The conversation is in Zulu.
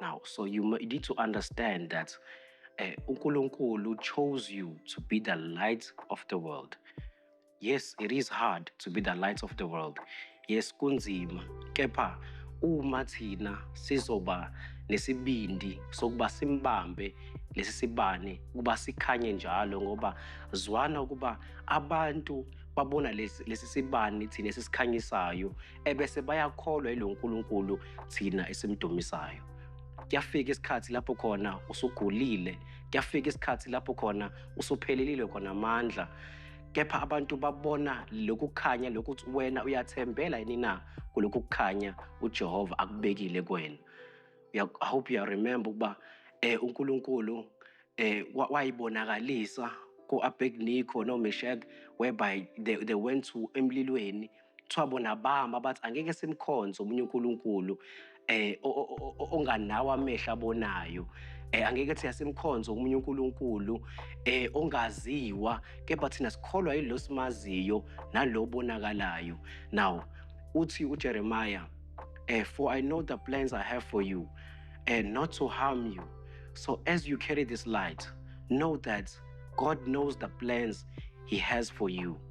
now so you need to understand that uh, unkulunkulu chose you to be the light of the world yes it is hard to be the light of the world yes kunzima kepha uma thina sizoba nesibindi sokuba simbambe lesi sibani ukuba sikhanye njalo ngoba zwana ukuba abantu babona lesi sibani thina esikhanyisayo ebese bayakholwa yilo Nkulunkulu thina esimdumisayo kuyafika isikhathi lapho khona usugulile kuyafika isikhathi lapho khona usuphelelile khona amandla kepha abantu babona lokhu kukhanya lokuthi wena uyathembela yini na kulokhu kukhanya uJehova akubekile kuwena i hope you remember ukuba eh uNkulunkulu eh wayibonakalisa ku-abednico nomeshek whereby they, they went to emlilweni kuthiwa bona bama bathi angeke simkhonze omunye uNkulunkulu eh onganawo amehlo abonayo eh angeke thina simkhonze omunye uNkulunkulu eh ongaziwa kepha thina sikholwa yilo simaziyo nalobonakalayo now uthi uJeremiah eh for i know the plans i have for you and eh, not to harm you so as you carry this light know that god knows the plans he has for you